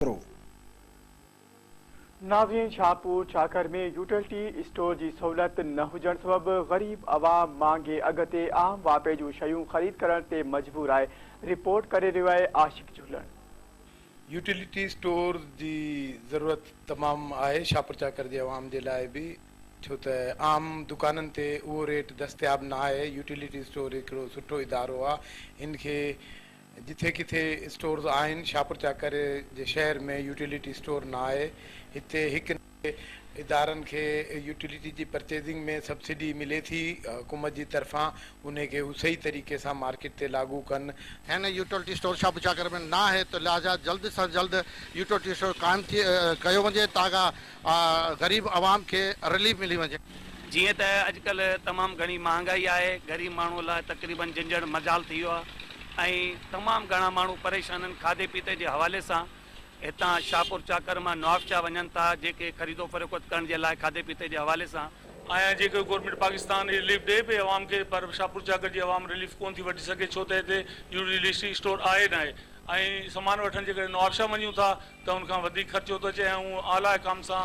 ڪرو. ناظرين Shahpur Chakar ۾ utility store جي سهولت نه هجڻ سبب غريب عوام مهانگي اگهه تي عام واپي جون شيون خريد ڪرڻ تي مجبور آهي، رپورٽ ڪري رهيو آهي عاشق جهلڻ. يوٽيلٽي اسٽور جي ضرورت تمام آهي شاهپورڇاکر جي عوام جي لاء به ڇو ته عام دڪانن تي اهو ريٽ دستياب نه آهي يوٽيلٽي اسٽور هڪڙو سٺو ادارو آهي ان کي جتي ڪٿي اسٽورز آهن، شاپور چاڪر جي شهر ۾ يوٽيلٽي اسٽور نه آهي، هتي هڪ نه ڪي ادارن کي يوٽيلٽي جي پرچيزنگ ۾ سبسڊي ملي ٿي حڪومت جي طرفان، انهي کي هو صحيح طريقي سان مارڪيٽ تي لاڳو ڪن. هن يوٽيلٽي اسٽور شاپور چاڪر ۾ نه آهي ته لهٰذا جلد سان جلد يوٽيلٽي اسٽور قائم ٿي ڪيو وڃي تاڪه غريب عوام کي رليف ملي وڃي. جيئن ته اڄڪلهه تمام گهڻي مهانگائي آهي، غريب ماڻهوء لاء تقريبن جنجهڻ مجال ٿي ويو آهي ۽ تمام گهڻا ماڻهو پريشان آهن، کاڌي پيتي جي حوالي سان هتان شاهپور چاڪر مان نوابشاهه وڃن ٿا، جيڪي خريدو فروخت ڪرڻ جي لاء کاڌي پيتي جي حوالي سان. آهيان، جيڪو گورنمينٽ پاڪستان رليف ڏئي پئي عوام کي پر شاهپور چاڪر جي عوام رليف ڪونه ٿي وٺي سگهي ڇو ته هتي يوٽيلسٽي اسٽور آهي ناهي ۽ سامان وٺڻ جيڪڏهن نوابشاهه وڃون ٿا ته ان کان وڌيڪ خرچو ٿو اچي ۽ آئون اعليٰ حڪام سان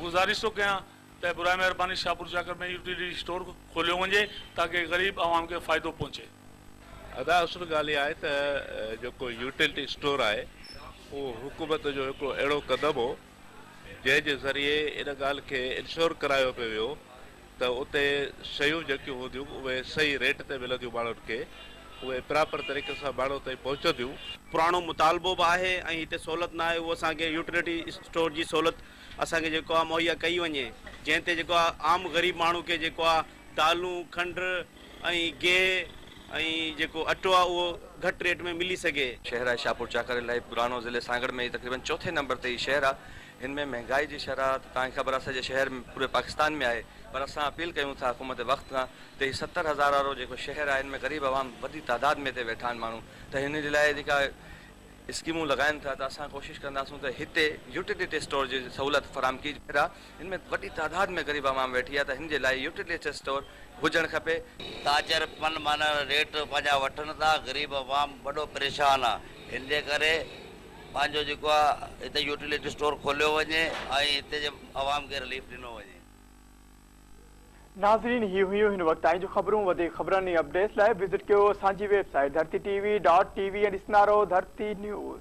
گذارش ٿو ڪيان ته براء مهرباني شاهپور شاڪر ۾ يوٽيلٽي اسٽور کوليو وڃي تاڪه غريب عوام کي فائدو پهچي. ادا اصل ڳالهه اها آهي ته جيڪو يوٽيلٽي اسٽور آهي اهو حڪومت جو هڪڙو اهڙو قدم هو جنهن جي ذريعي ان ڳالهه کي انشور ڪرايو پيو ويو ته اتي شيون جيڪيون هونديون اهي صحيح ريٽ تي ملنديون ماڻهن کي اهي پراپر طريقي سان ماڻهن تائين پهچنديون. پراڻو مطالبو به آهي ۽ هتي سهولت نه آهي اهو اسان کي يوٽيلٽي اسٽور جي سهولت اسان کي جيڪو آهي مهيا ڪئي وڃي جنهن تي جيڪو آهي عام غريب ماڻهو کي جيڪو آهي دالون کنڊ ۽ گيهه ۽ جيڪو اٽو آهي اهو گهٽ ريٽ ۾ ملي سگهي. شهر آهي شاهپور چاڪري لاء پراڻو ضلعي سانگهڙ ۾ هي تقريبن چوٿين نمبر تي هي شهر آهي هن ۾ مهنگائي جي شرح ته توهان کي خبر آهي سڄي شهر ۾ پوري پاڪستان ۾ آهي پر اسان اپيل ڪيون ٿا حڪومت وقت کان ته هي ستر هزار وارو جيڪو شهر آهي ان ۾ غريب عوام وڏي تعداد ۾ هتي ويٺا آهن ماڻهو ته هن جي لاء جيڪا اسڪيمون لڳائن ٿا ته اسان ڪوشش ڪنداسون ته هتي يوٽيلٽي اسٽور جي سهولت فراهم ڪي شهر آهي هن ۾ وڏي تعداد ۾ غريب عوام ويٺي آهي ته هن جي لاء يوٽيلٽي اسٽور هجڻ کپي. تاجر من مانائڻ ريٽ پنهنجا وٺن ٿا غريب عوام وڏو پريشان آهي هن جي ڪري پنهنجو جيڪو آهي هتي يوٽيلٽي اسٽور کوليو وڃي ۽ هتي جي عوام کي رليف ڏنو وڃي. ناظرين هي هيون هن وقت تائين جون خبرون وڌيڪ خبرن ۽ اپڊيٽس لاء وزٽ ڪيو اسان جي website Dharti T V dot T V ۽ ڏسندا رهو ڌرتي نيوز.